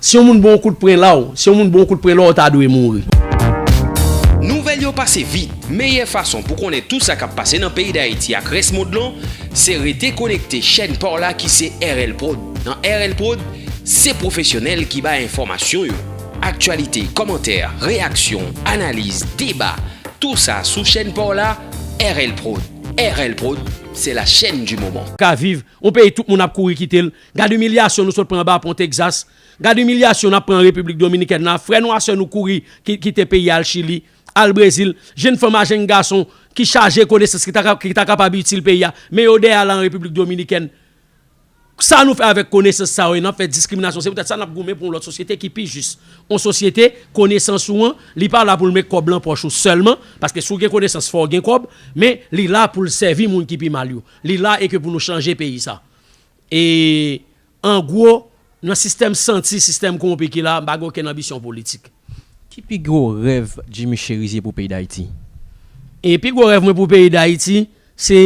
Si yon moun ba w kout pren la w. Si yon moun ba w kout pren la w ta dwe mouri. Nouvèl yo pase vit, meyè fason pou konnen tout sa kap pase nan peyi Dayiti ak rès mond lan se rete konekte chèn paw la ki se RL prod. Nan RL prod se pwofesyonèl ki bay enfòmasyon yo. Aktyalite, kòmantè, reyaksyon, analiz, deba, tou sa sou chèn paw la RL prod. RL prod se la chèn di moman. Ka viv, on peyi tout moun ap kouri kite l. Gad imilyasyon nou sot pran anba pon Texas, gad imilyasyon nap pran an Repiblik Dominikèn la, frè nou a sè nou kouri kite peyi al Chili, al Brezil, jenn fanm a jenn gason ki chaje konesans ki ta kapab itil peyi a, men yo dèyè al an Repiblik Dominikèn. Sa nou fè avèk konesans sa yo e nap fè diskriminasyon se poutèt sa nap goumen pou yon lòt sosyete ki pi jis, yon sosyete konesans ou an li pa la poul met kòb lan pòch ou sèlman, paske si w gen konesans fò w gen kòb, men li la poul sèvi moun ki pi mal yo. Li la e ke pou nou chanje peyi sa. E an gwo, nan sistèm santi, sistèm kowonpi ki la, m pa gen okenn anbisyon politik. Ki pi gwo rèv Jimmy Chérizier pou peyi Dayiti? E pi gwo rèv mwen pou peyi Dayiti, se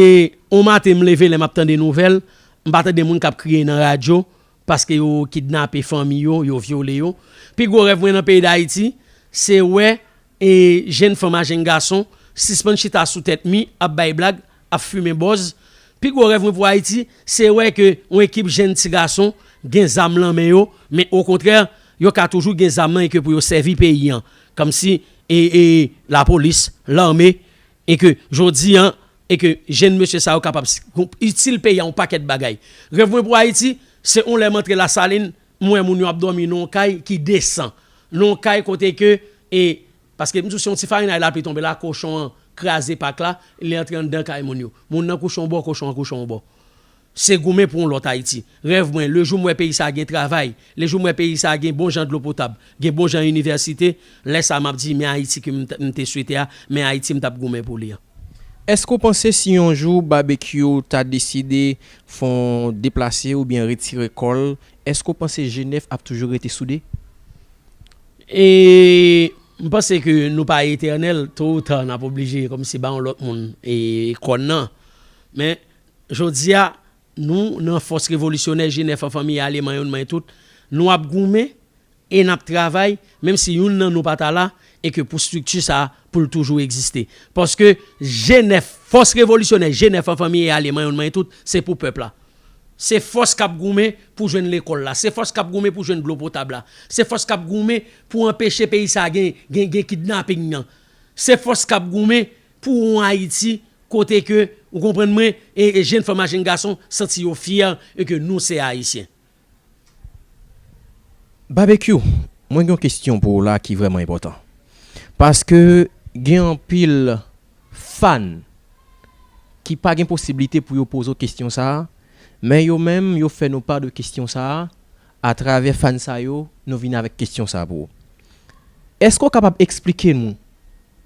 yon maten m leve lè m ap tande nouvèl, m pa tande moun k ap kriye nan radyo paske yo kidnape fanmi yo, yo vyole yo. Pi gwo rèv mwen nan peyi Dayiti, se wè E jenn fanm a jenn gason sispann chita sou tèt mi ap bay blag, ap fimen bòz. Pi gwo rèv mwen pou Ayiti, se wè ke yon ekip jenn ti gason gen zam lan men yo, men okontrè yo ka toujou gen zam lan e ke pou yo sèvi peyi an kòm si e e lapolis, lame e ke jodi an e ke jenn mesye sa yo kapab itil peyi an yon pakèt bagay. Rèv mwen pou Ayiti, se yon lè m antre Lasalin, M wè moun yo ap dòmi nan yon kay ki desan. Nan yon kay kote ke e paske m di w se yon ti farinay lapli tonbe la, kochon an kraze pak la, li antre anndan kay moun yo. Moun nan kouche yon bò, kochon an kouche yon bò. Se goumen pou yon lòt Ayiti. Rèv mwen, le jou m wè peyi sa a gen travay, le jou m wè peyi sa a gen bon jan dlo potab, gen bon jan inivèsite, lè sa a m ap di men Ayiti ke m te swete a, men Ayiti m t ap goumen pou li an. Èske w panse si yon jou Babekyou ta deside fè yon deplase oubyen retire kò l, èske w panse Jenèf ap toujou rete soude? E m panse ke nou pa etènèl, to ou ta n ap oblije kòmsi ba yon lòt moun kòn nan. Men, jodi a, nou nan fòs revolisyonè Jenèf an fanmi aleman yon nan men tout, nou ap goumen. E n ap travay, menm si youn nan nou pa ta la, e ke pou strikti sa a, pou l toujou egziste. Paske G9, fòs revolisyonè G9 an fanmi e alye manyon manyen tout, se pou pèp la. Se fòs k ap goumen pou jwenn lekòl la. Se fòs k ap goumen pou jwenn dlo potab la. Se fòs k ap goumen pou anpeche peyi sa a gen, gen, gen kidnaping nan. Se fòs k ap goumen pou yon Ayiti kote ke, ou konprann mwen, e jenn fanm ak jenn gason santi yo fyè e ke nou se Ayisyen. Babekyou mwen gen yon kesyon pou ou la ki vrèman enpòtan paske gen anpil fan ki pa gen posiblite pou yo poze w kesyon sa men yo menm yo fè nou pa de kesyon sa atravè fan sa yo nou vini avèk kesyon sa pou ou eske ou kapab esplike nou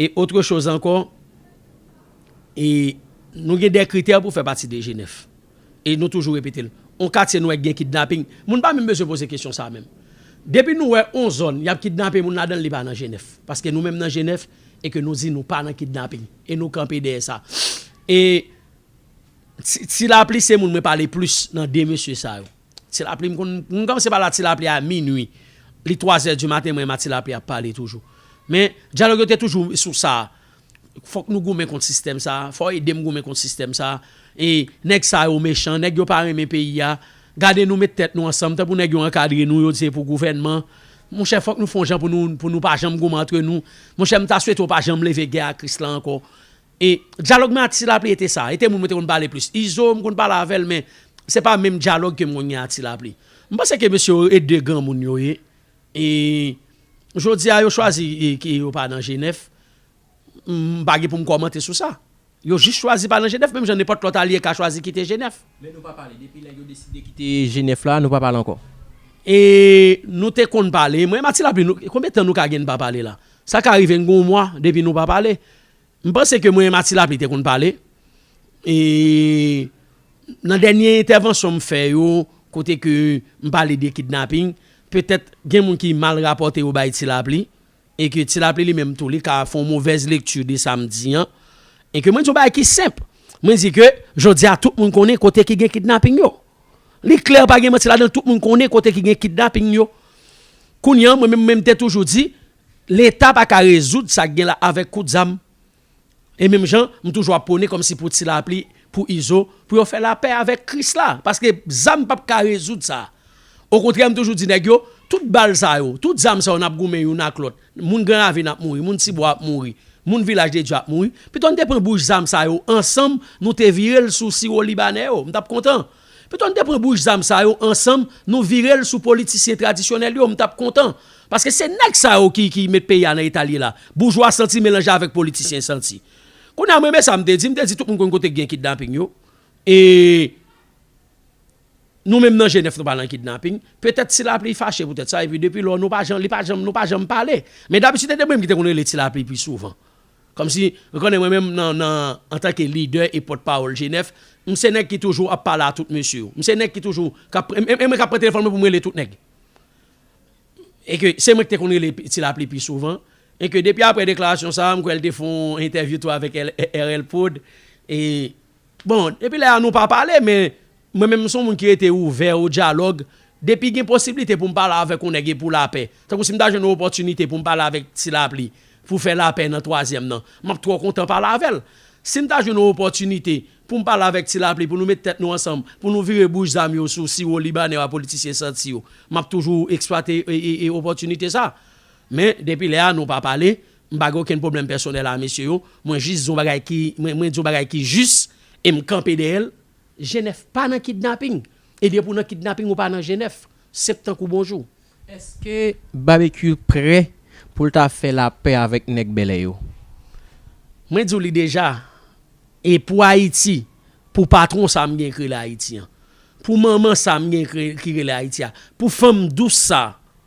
Et autre chose ankò, e nou gen de kritè pou fè pati de Jenèf. E nou toujou repete l. On katye nou wè k gen kidnaping, moun pa menm bezwen poze kesyon sa menm. Depi nou wè on zòn y ap kidnape moun ladan l, li pa nan Jenèf. Paske nou menm nan Jenèf e ke nou di nou pa nan kidnaping. E nou kanpe dèyè sa. E Ti Lapli se moun mwen pale plis nan 2 mesye sa yo. Ti lapli m konn m kòmanse pale a ti lapli a minui li twazè di maten mwen m a ti lapli ap pale toujou men dyalòg yo te toujou sou sa fòk nou goumen kont sistèm sa fò ede m goumen kont sistèm sa e nèg sa yo mechan nèg yo pa renmen peyi a gade nou met tèt nou ansanm tankou nèg yo ankadre nou yo di se pou gouvènman monchè fòk nou fon jan pou nou pou nou pa janm goumen antre nou monchè m ta swete yo pa janm leve gè ak ris la ankò E dyalòg mwen Atila Apli ete sa. Ete moun mwen te konn pale plis. Izo m konn pale avè l men se pa menm dyalòg ke m konn gen Atila Apli. M panse ke mesye yo e de granmoun yo ye. E jodi a yo chwazi ke yo pa nan Jenèf. M pa gen pou m kòmante sou sa. Yo jis chwazi pa nan Jenèf menm jan nenpòt lòt alye ka chwazi kite Jenèf. Men nou pa pale. Depi lè yo deside kite Jenèf la, nou pa pale ankò. E nou te konn pale. Mwen m Atila Apli, konbyen tan nou ka gen n pa pale la? Sa ka rive n gen yon mwa depi nou pa pale. M panse ke mwen e Matilapli te konn pale. E nan dènye entèvansyon m fè yo, kote ke m pale de kidnaping, petèt gen moun ki mal rapòte yo bay Tilapli, e ke Tilapli li menm tou li ka fè yon movèz lekti de sa m di an. E ke mwen di yon bagay ki senp. Mwen di ke jodi a tout moun konnen kote ki gen kidnaping yo. Li klè pa gen manti ladan l, tout moun konnen kote ki gen kidnaping yo. Kounye an mwen menm, mwen te toujou di. Leta pa ka rezoud sa gen la avèk kout zam. E menm jan m toujou ap pwone kòmsi pou ti lapli, pou izo, pou yo fè lapè avèk kris la. Paske zam pap ka rezoud sa. Okontrè m toujou di nèg yo, tout bal sa yo, tout zam sa yo n ap goumen youn ak lòt. Moun gran ravin ap mouri, moun ti bwa ap mouri, moun vilaj de dye ap mouri. Pito n te pran bouch zam sa yo ansanm nou te vire l sou siwo libanè yo. M t ap kontan. Pito n te pran bouch zam sa yo ansanm nou vire l sou politisyen tradisyonèl yo m tap kontan paske se nèg sa yo ki met peyi a nan eta l ye la boujwa santi melanje avèk politisyen santi kounye a m renmen sa m te di m te di tout moun konn kote ki gen kidnaping yo e nou menm nan jenèf nou pa nan kidnaping petèt ti lapli fache poutèt sa epi depi lò nou pa janm li pa janm nou pa janm pale men dabitid se te mwen ki te konn rele ti lapli pi souvan Kòmsi, ou konnen mwen menm nan nan antanke lidè e pòt pawòl G9, m se nèg ki toujou ap pale a tout mesye yo. M se nèg ki toujou k ap e mwen k ap pran telefòn mwen pou m rele tout nèg. E ke se mwen ki te konn rele Ti Lapli pi souvan. E ke depi aprè deklarasyon sa a, m kwè l te fè yon entèvyou tou avèk RL Prod e Bon, depi lè a nou pa pale, men mwen menm m son moun ki rete ouvè o dyalòg, depi gen posiblite pou m pale avèk yon nèg e pou lapè, tankou si m ta jwenn yon opòtinite pou m pale avèk Ti Lapli pou fè lapè nan twazyèm nan, m ap twò kontan pale avè l. Si m ta jwenn yon opòtinite pou m pale avèk Ti Lapli pou nou met tèt nou ansanm, pou nou vire bouch zam yo sou siwo Libanè yo ak politisyen santi yo, m ap toujou eksplwate opòtinite sa. Men, depi lè a nou pa pale, M pa gen okenn pwoblèm pèsonèl a mesye yo, mwen jis di yon bagay ki, mwen di yon bagay ki jis e m kanpe dèyè l. Jenèf pa nan kidnaping e depi w nan kidnaping ou pa nan Jenèf, senp tankou bonjou. Eske Babekyou prè pou l ta fè lapè avèk nèg Bèlè yo? Mwen di w li deja e pou Ayiti, pou patwon sa a m gen k rele Ayiti an, pou manman sa a m gen ki rele Ayiti a, pou fanm dous sa a,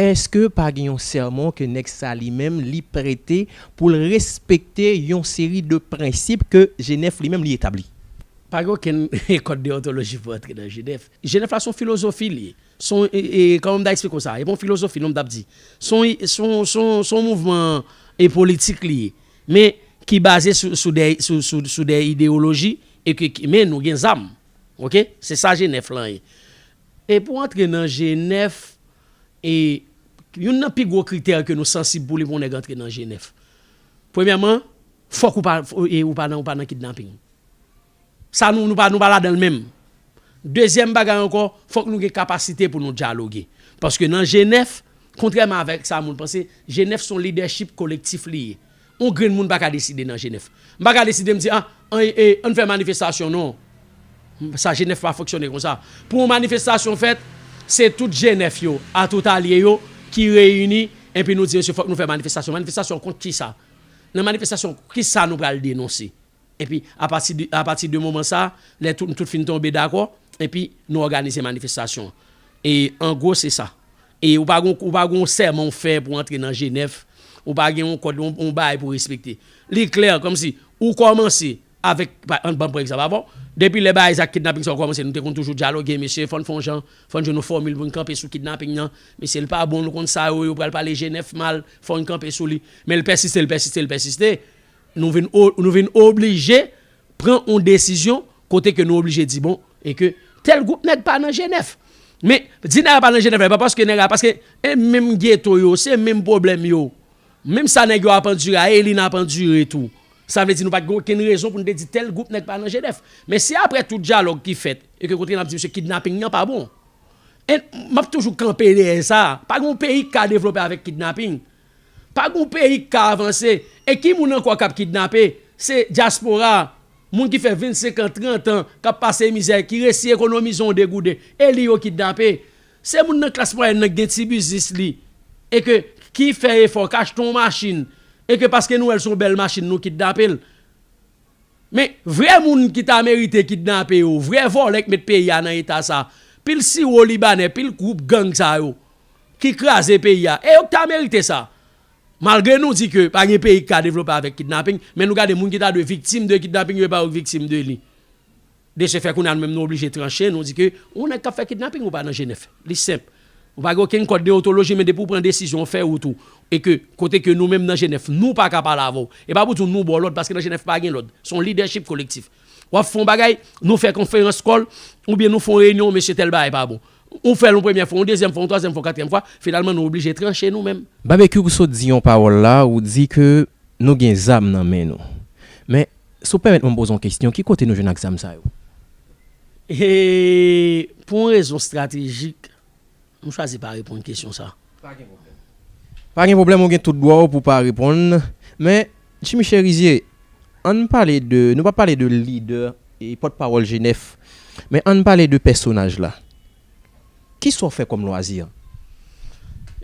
Eske pa gen yon sèman ke nèg sa li menm li prete pou l respekte yon seri de prensip ke Jenèf li menm li etabli? Pa gen okenn kòd deyontoloji pou antre nan Jenèf. Jenèf la se yon filozofi li ye. Se yon, kòman m ta eksplike w sa? E pa yon filozofi non m ta p di. Se yon, se yon, se yon, se yon mouvman politik li ye. Men, ki baze sou, sou de, sou, sou, sou de ideyoloji e ke, men nou gen zam. Ok? Se sa Jenèf lan ye. E pou antre nan G9, e youn nan pi gwo kritè ke nou sansib pou li pou yon nèg antre nan G9, premyèman, fòk ou pa e ou pa nan ou pa nan kidnaping. Sa nou nou pa nou pa ladan l menm. Dezyèm bagay ankò, fòk nou gen kapasite pou nou dyaloge. Paske nan G9, kontrèman avèk sa moun panse, G9 se yon lidèchip kolektif li ye. On grenn moun pa ka deside nan Jenèf. M pa ka deside m di a, ann fè manifestasyon non. Sa Jenèf pa fonksyone konsa. Pou on manifestasyon fèt, se tout Jenèf yo a tout alye yo ki reyini enpi nou di mesye fòk nou fè manifestasyon. Manifestasyon kont kisa? Nan manifestasyon kisa nou pral denonse? Epi, apati de, apati de moman sa a, lè tout, nou tout fin tonbe dakò, epi, nou òganize manifestasyon an. E, an gwo, se sa. E, ou pa gen yon, ou pa gen yon sèman ou fè pou antre nan Jenèf, ou pa gen yon kòd, yon, yon bagay pou respekte. Li klè, kòmsi, ou kòmanse avèk, pa, an, banm pran egzanp avè w, depi lè bagay sa kidnaping sa yo kòmanse, nou te konn toujou dyaloge, mesye, fò n fè yon jan, fò n jwenn yon fòmil pou n kanpe sou kidnaping nan, mesye, l pa bon, nou konn sa yo, yo pral pale Jenèf mal, fò n kanpe sou li. Men l pèsiste, l pèsiste, l pèsiste. nou vin nou vin oblije pran yon desizyon kote ke nou oblije di bon e ke tèl gwoup nèg pa nan jenèf men di nèg la pa nan jenèf la e pa paske nèg la paske e menm geto yo se menm pwoblèm yo menm sa nèg yo ap andire a e li n ap andire tou sa vle di nou pa t gen okenn rezon pou n te di tèl gwoup nèg pa nan jenèf men si aprè tout dyalòg ki fèt e ke kote n ap di msye kidnaping nan pa bon e m ap toujou kanpe dèyè sa pa gen yon peyi k ka devlope avèk kidnaping. Pa gon peyi k ka avanse. E ki moun ankò k ap kidnape? Se dyaspora a. Moun ki fè 25 an, 30 an, k ap pase mizè, ki resi ekonomize yon degouden. E li yo kidnape. Se moun nan klas mwayèn nan ki gen ti biznis li e ke ki fè efò, k achte yon machin e ke paske nou wè l se yon bèl machin nou kidnape l. Men, vrè moun ki ta merite kidnape yo, vrè vòlè k met peyi a nan eta sa, pil siwo libanè, pil gwoup gang sa yo. ki kraze peyi a e yo ki ta merite sa malgre nou di ke pa gen peyi ki ka devlope avèk kidnaping men nou gade moun ki ta dwe viktim de kidnaping yo e pa yo ki viktim de li de se fè kounya nou menm nou oblije tranche nou di ke yon nèg kap fè kidnaping ou pa nan jenèf li senp ou pa gen okenn kòd deontoloji men depi ou pran desizyon ou fè wout ou e ke kote ke nou menm nan jenèf nou pa ka pale avèw e pa pou di nou baw lòd paske nan jenèf pa gen lòd son lidèchip kolektif. Wap fon bagay, nou fè konferans kòl, oubyen nou fon reyinyon, mesye tèl bagay pa bon. Ou fèl yon premyè fwa, yon dezyèm fwa, yon twazyèm fwa, yon katriyèm fwa, finalman nou oblije tranche nou menm. Babekyou ou sot di yon pawòl la, ou di ke nou gen zam nan men nou. Men, si w pèmèt mwen poze yon kesyon, ki kote nou jwenn ak zam sa yo? Eee, pou yon rezon stratejik, M chwazi pa reponn kesyon sa. Pa gen pwoblèm. Pa gen pwoblèm ou gen tout dwa w pou pa reponn. Men, Jimmy Cherizier, ann pale de, nou pa pale de lidè e pòt pawòl G9, men ann pale de pèsonaj la. Ki sa w fè kòm lwazi?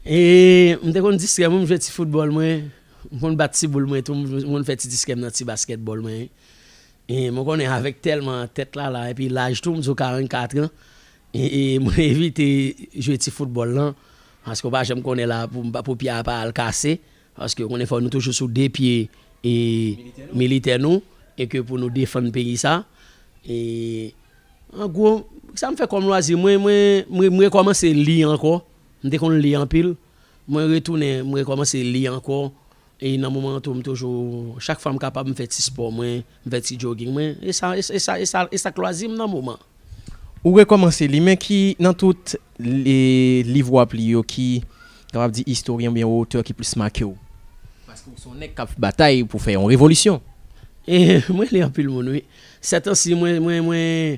E, m te konn distrè mwen, m jwe ti foutbòl mwen, m konn bat ti boul mwen tou, m konn fè ti distrè m nan ti baskètbòl mwen. E, mwen konnen avèk tèlman tèt lala epi laj tou, m di w 44 an, Mwen evite jwe ti foutbòl lan paske ou pa janm konnen la pou pye a pa al kase paske ou konnen fò nou toujou sou 2 pye militè nou e ke pou nou defann peyi sa e an gwo sa m fè kòm lwazi mwen mwen m rekòmanse li ankò m te konn li anpil mwen retounen m rekòmanse li ankò E nan moman an tou m toujou chak fwa m kapab m fè ti spò mwen, m fè ti jogging mwen e sa e sa e sa e sa k lwazi m nan moman. Ou rekòmanse li men ki nan tout liv wap li yo ki kapab di istoryen oubyen otè ki plis make w? Paske ou se yon nèg kap batay pou fè yon revolisyon. E mwen li anpil moun wi. Sètansi mwen mwen mwen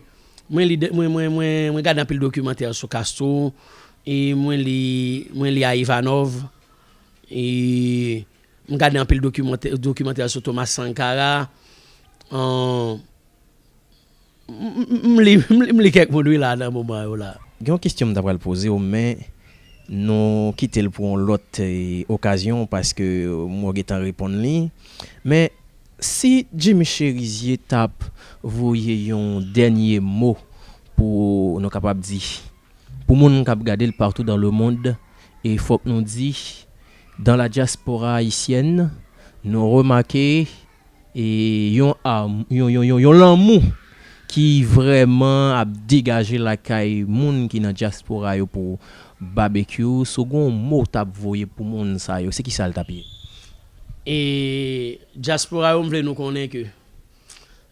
mwen li de mwen mwen mwen mwen gade anpil dokimantè sou Castro e mwen li mwen li a Ivanov. M gade anpil dokimantè sou Thomas Sankara. M li kèk moun wi la nan moman yo la. Gen yon kestyon m ta pral poze w men nou kite l pou yon lòt okazyon paske m wè w gen tan reponn li. Men si Jimmy Cherizier t ap voye yon dènye mo pou nou kapab di. Pou moun kap gadel partout dans le monde e fok nou di dans la diaspora haïtienne nou remake e yon yon yon lanmou ki vrèman ap degaje lakay moun ki nan diaspora yo pou Babekyou si w gon mo w tap voye pou moun sa yo se kisa l tap ye? E diaspora yo m vle nou konnen ke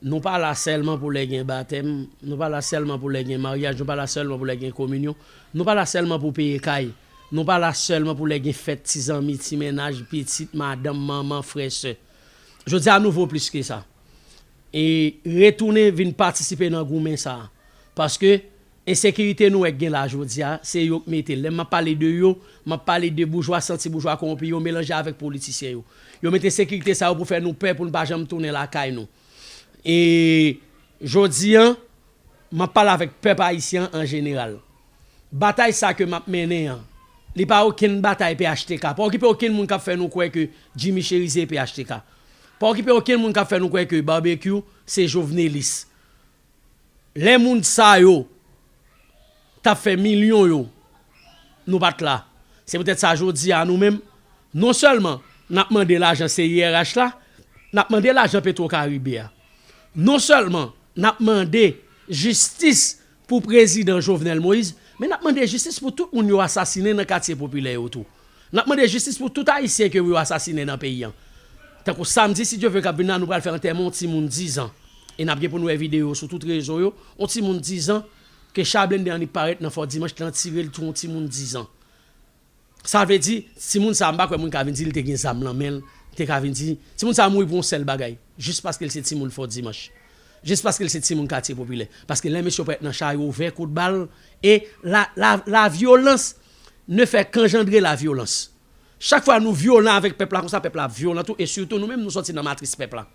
Nou pa la sèlman pou lè gen batèm, nou pa la sèlman pou lè gen maryaj, nou pa la sèlman pou lè gen kominyon, nou pa la sèlman pou peye kay, nou pa la sèlman pou lè gen fèt ti zanmi, ti mennaj, pitit, madanm, manman, frè, sè. Jodi a nou vo plis ke sa. E retounen vin patisipe nan goumen sa a. Paske. Ensekirite nou wè k gen la jodi a, se yo k mete l. Lè m ap pale de yo, m ap pale de boujwa santi, boujwa kowonpi yo melanje avèk politisyen yo. Yo met ensekirite sa yo pou fè nou pè, pou n pa janm tounen lakay nou. E jodi an, m ap pale avèk pèp ayisyen an an jeneral. Batay sa ke m ap mennen an, li pa okenn batay phtk. Pa okipe okenn moun k ap fè nou kwè ke Jimmy Cherizier e phtk. Pa okipe okenn moun k ap fè nou kwè ke Barbecue se jovenelis. Lè moun sa yo tap fè milyon yo nou pat la se poutèt sa jodi a nou menm non sèlman nap mande lajan CIRH la nap mande lajan petro karibe a non sèlman nap mande jistis pou prezidan Jovenel Moïse men nap mande jistis pou tout moun yo asasinen nan katye popilè yo tou. Nap mande jistis pou tout ayisyen ke yo asasinen nan peyi an. Tankou samdi si Dye ve kap vin la nou pral fè antèman yon timoun 10 ans e nap gen pou nou wè video yo sou tout rezo yo, yon timoun 10 ans ke cha blende an li parèt nan fò dimanch lan tirel tou yon timoun 10 ans. Sa vle di timoun sa mpa kwè moun ka vin di li te gen zam lan menl te ka vin di timoun sa mouri pou yon sèl bagay jis paskel se timoun fò dimanch. Jis paskel se timoun katye popilè. Paske lè mesye yo parèt nan cha yo ouvè kout bal e la la la vyolans Ne fè k'anjandre la vyolans. Chak fwa nou vyolan avèk pèp la konsa pèp la ap vyolan tou e sitou nou menm nou sòti nan matris pèp la.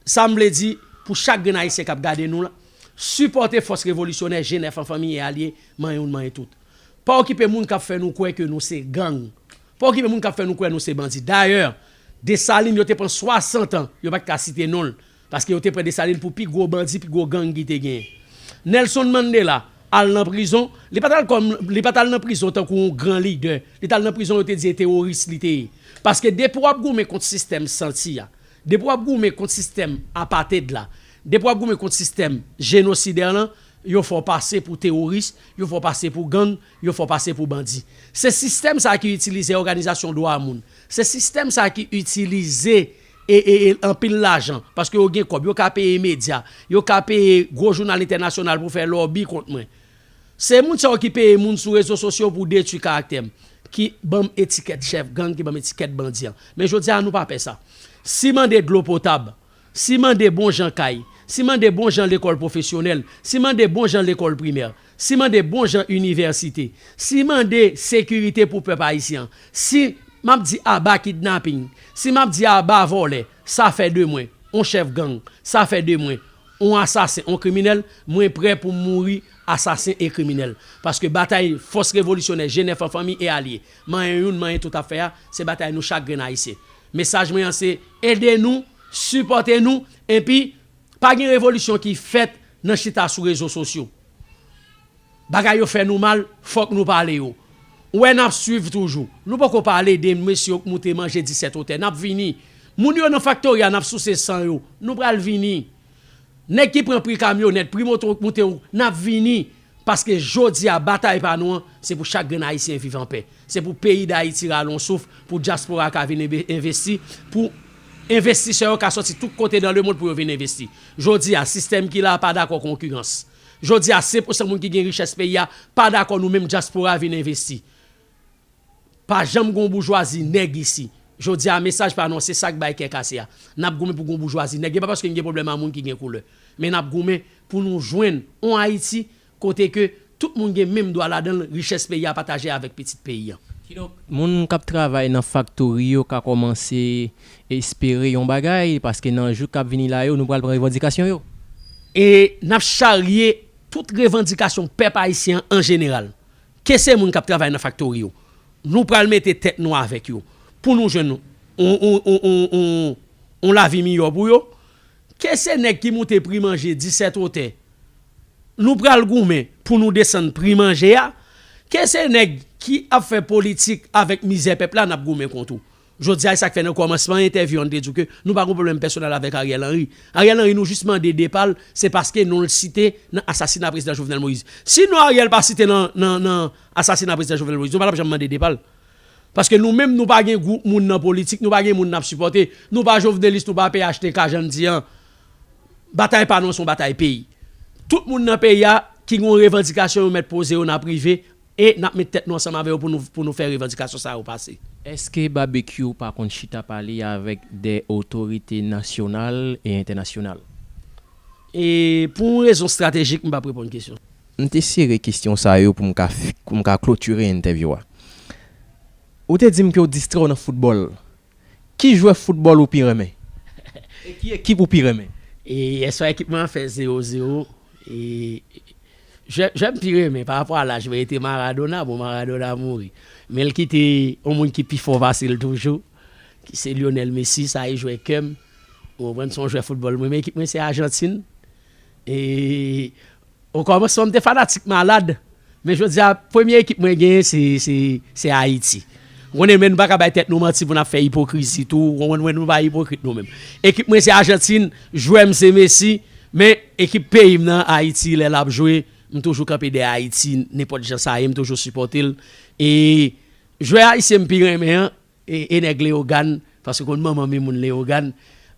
Sa m vle di pou chak grenn Ayisyen k'ap gade nou la, sipòte fòs revolisyonè Jenèf an fanmi e alye, manyen youn manyen tout. Pa okipe moun k'ap fè nou kwè ke nou se gang. Pa okipe moun k'ap fè nou kwè nou se bandi. Dayè, Desalin yo te pran 60 an yo pat ka site non l Paske yo te pran Dessalines pou pi gwo bandi, pi gwo gang ki te genyen. Nelson Mandela al nan prizon, li pat al kòm, li pat al nan prizon tankou yon gran lidè, li t al nan prizon yo te di e teworis li te ye. Paske depi w ap goumen kont sistèm santi a, depi w ap goumen kont sistèm apated la, depi w ap goumen kont sistèm jenosidè lan, yo fè w pase pou teworis, yo fè w pase pou gang, yo fè w pase pou bandi. Se sistèm sa ki itilize òganizasyon dwa moun, se sistèm sa ki itilize. e anpil lajan paske yo gen kòb yo ka peye medya yo ka peye gwo jounal entènasyonal pou fè lòbi kont mwen se moun sa yo ki peye moun sou rezo sosyo pou detwi karaktè m ki banm etikèt chèf gang ki banm etikèt bandi an men jodi a nou pa pè sa si mande dlo potab si mande bon jan kay si mande bon jan lekòl pwofesyonèl si mande bon jan lekòl primè Si mande bon jan inivèsite. Si mande sekirite pou pèp ayisyen an. Si M ap di aba kidnaping. Si m ap di aba vòlè. Sa fè de mwen, on chèf gang. Sa fè de mwen, on asasen, on kriminèl. Mwen prè pou m mouri asasen e kriminèl. Paske batay fòs revolisyonè Jenèf an fanmi e alye, manyen youn, manyen tout ap fè a, se batay nou chak grenn ayisyen. Mesaj mwen an se, ede nou, sipòte nou, enpi, Pa gen revolisyon ki fèt nan chita sou rezo sosyo. Bagay yo fè nou mal, fòk nou pale yo. Ou wè nap swiv toujou. Nou poko pale de mesye yo k moute manje 17 otè. Nap vini. Moun yo nan faktori a nap souse san yo. Nou pral vini. Nèg ki pran pri kamyonèt, pri moto yo k moute yo, nap vini. Paske jodi a batay pa nou an se pou chak grenn ayisyen viv anpè. Se pou peyi dayiti rale yon souf, pou dyaspora ka vin envesti, pou envestisè yo ka sòti tout kote dan lemond pou yo vin envesti. Jodi a sistèm ki la a pa dakò konkirans. Jodi a 5 pousan moun ki gen richès peyi a pa dakò nou menm dyaspora vin envesti. Pa janm gon boujwazi nèg isi. Jodi a mesaj pa non se sak bay kè kase a. Nap goumen pou gon boujwazi nèg. E pa paske n gen pwoblèm a moun ki gen koulè. Men nap goumen pou nou jwenn on Ayiti kote ke tout moun gen menm dwa ladan l, richès peyi a pataje avèk pitit peyi an. Kidonk, moun kap travay nan faktori yo ka kòmanse espere yon bagay paske nan jou kap vini la yo nou pral pran revandikasyon yo. E nap charye tout revandikasyon pèp ayisyen an an jeneral. Ke se moun kap travay nan faktori yo, nou pral mete tèt nou avèk yo pou nou jwenn yon lavi miyò pou yo. Ke se nèg ki moute pri manje disèt otè, nou pral goumen pou nou desann pri manje a. Ke se nèg ki ap fè politik avèk mizè pèp la, nap goumen kont ou. Jodi a e sak fè nan kòmansman entèvyou an m te di w ke nou pa gon pwoblèm pèsonèl avèk Ariel Henry. Ariel Henry nou jis mande depa l se paske non l site nan asasina Prezidan Jovenel Moïse. Si non Ariel pa site nan asasina Prezidan Jovenel Moïse nou pa t ap janm mande depa l. Paske nou menm nou pa gen gwoup moun nan politik, nou pa gen moun n ap sipòte, nou pa jovenelis, nou pa phtk jan n di an. Batay pa nou an se yon batay peyi. Tout moun nan peyi a ki gen yon revandikasyon yo mèt poze yo nan prive E nap met tèt nou ansanm avè yo pou nou fè revandikasyon sa yo pase. Eske Babekyou pa konn chita pale avèk de otorite nasyonal e entènasyonal? E pou yon rezon stratejik m pap reponn kesyon. M te sere kesyon sa yo pou m ka klotire entèvyou a. Ou te di m ke w distrè w nan foutbòl. Ki jwè foutbòl ou pi renmen? E ki ekip ou pi renmen? E yèswa ekip mwen an fè 0 0. E jwè m pi renmen pa rapò a laj mwen e te Maradona. Bon Maradona mouri. Men l kite yon moun ki pi fò pase l toujou ki se Lyonèl Mesi. Sa e jwè kè m. Ou konprann? Se yon jwè foutbòl m renmen. Ekip mwen se Ajantin. E O kòmansman m te fanatik malad, men jodi a premye ekip mwen genyen se Ayiti. Ou konnen men nou pa ka bay tèt nou manti pou n ap fè ipokrizi tou, ou konprann mwen nou pa ipokrit nou menm. Ekip mwen se Ajantin, jwè m se Messi, men ekip peyi m nan Ayiti lè l ap jwe m toujou kanpe dèyè Ayiti nenpòt jan sa ye m toujou sipòte l e jwè ayisyen m pi renmen an E nèg Leyogàn, paske konn manman m e moun Leyogàn,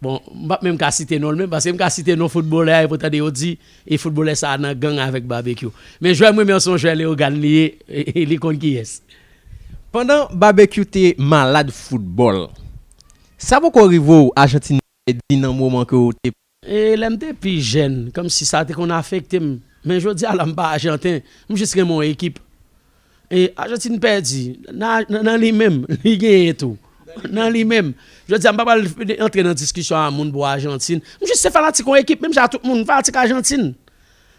bon m pap menm ka site non l menm, paske m ka site non foutbolè a epi w tande yo di e foutbolè sa a nan gang avèk Babekyou. Men jwè m renmen an se yon jwè Leyogàn li ye, li konn kiyès. Pandan Babekyou te malad foutbòl, sa poko rive w Ajantin te pèdi nan moman ke w te E lè m te pi jèn, kòmsi sa te konn afekte m. Men jodi a la m pa ajanten, m jis renmen yon ekip. E Ajantin pèdi, nan li menm, li genyen tou. Nan li menm. Jodi a m pa pral antre nan diskisyon a moun pou Ajantin. M jis se fanatik yon ekip, menm jan a tout moun, m fanatik Ajantin.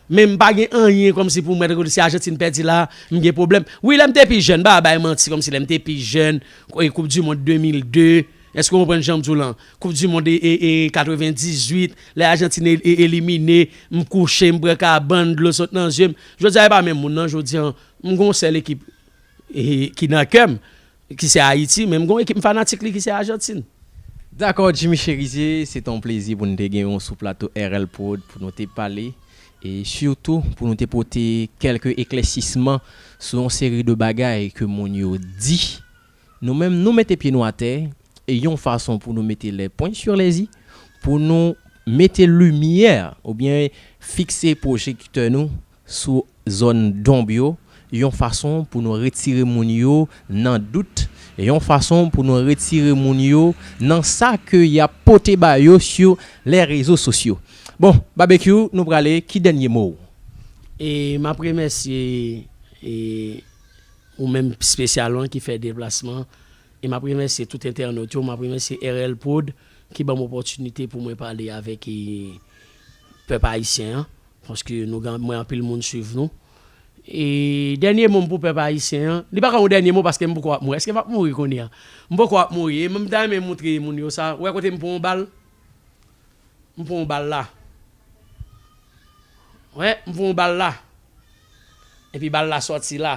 Men m pa gen anyen kòmsi pou mwen si Ajantin pèdi la m gen pwoblèm. Wi lè m te pi jèn, m pa va bay manti kòmsi lè m te pi jèn, koup di mond 2002, èske w konprann jan m di w lan? Koup di mond 98, lè Ajantin elimine, m kouche, m pran kabann, dlo sot nan zye m. Jodi a e pa menm moun nan, jodi an m gen yon sèl ekip ki nan kè m. Ki se Ayiti, men m gen yon ekip m fanatik li ki se Ajantin. Dakò Jimmy Cherizier, se te yon plezi pou nou te genyen w sou plato RL Prod pou nou te pale e sitou pou nou te pote kèlke eklèsisman sou yon seri de bagay ke moun yo di. Nou menm nou mete pye nou atè e yon fason pou nou mete les points sur les i, pou nou mete limyè oubyen fikse pwojektè nou sou zòn donb yo, yon fason pou nou retire moun yo nan dout, yon fason pou nou retire moun yo nan sa ke y ap pote ba yo sou lè rezo sosyo. Bon, Babekyou, nou prale, ki dènye mo ou? E m ap remèsye e ou menm spesyalman ki fè deplasman, e m ap remèsye tout entènot yo, m ap remèsye RL prod ki ban m opòtinite pou mwen pale avèk e pèp ayisyen an. Paske nou gen mwen anpil moun swiv nou. E dènye mo m pou pèp ayisyen an, li pa ka yon dènye mo paske m poko ap mouri. Eske m ap mouri kounye a? M poko ap mouri e m ta renmen moutre moun yo sa. Ou wè kote m pran yon bal? M pran yon bal la. Ou wè, m pran yon bal la. Epi bal la sòti la.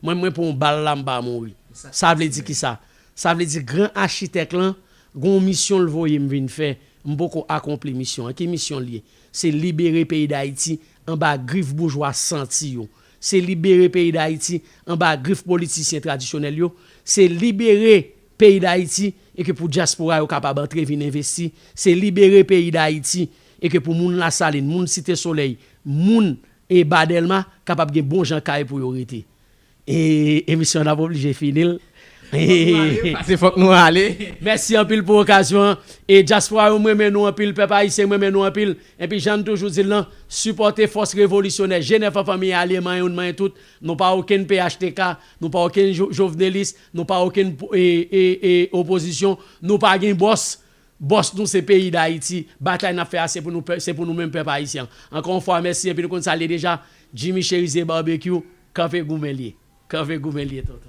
Mwen mwen pran yon bal la m pa mouri. Sa vle di kisa? Sa vle di gran achitèk lan gen yon misyon l voye m vin fè, m poko akonpli misyon an. Ki misyon l ye? Se libere peyi Dayiti anba grif boujwa santi yo. Se libere peyi Dayiti anba grif politisyen tradisyonèl yo. Se libere peyi Dayiti e ke pou dyaspora yo kapab antre vin envesti. Se libere peyi Dayiti e ke pou moun Lasalin, moun Site Solèy, moun E ba Dèlma kapab gen bon jan kay pou yo rete. Eee emisyon an ap oblije fini l. Eee. Pase fòk nou ale. Mèsi anpil pou okazyon an. E dyaspora yo m renmen nou anpil, pèp ayisyen m renmen nou anpil. Enpi jan n toujou di l lan, sipòte fòs revolisyonè Jenèf an fanmi alye manyen youn manyen tout. Nou pa okenn phtk, nou pa okenn jovenelis, nou pa okenn e e e opozisyon, nou pa gen bòs. Boss nou se peyi dayiti, batay nap fè a se pou nou pè, se pou nou menm pèp ayisyen. Ankò yon fwa mèsi epi nou konn sa l ye deja, Jimmy Cherizier Barbecue, kanpe goumen l ye. Kanpe goumen l ye tonton.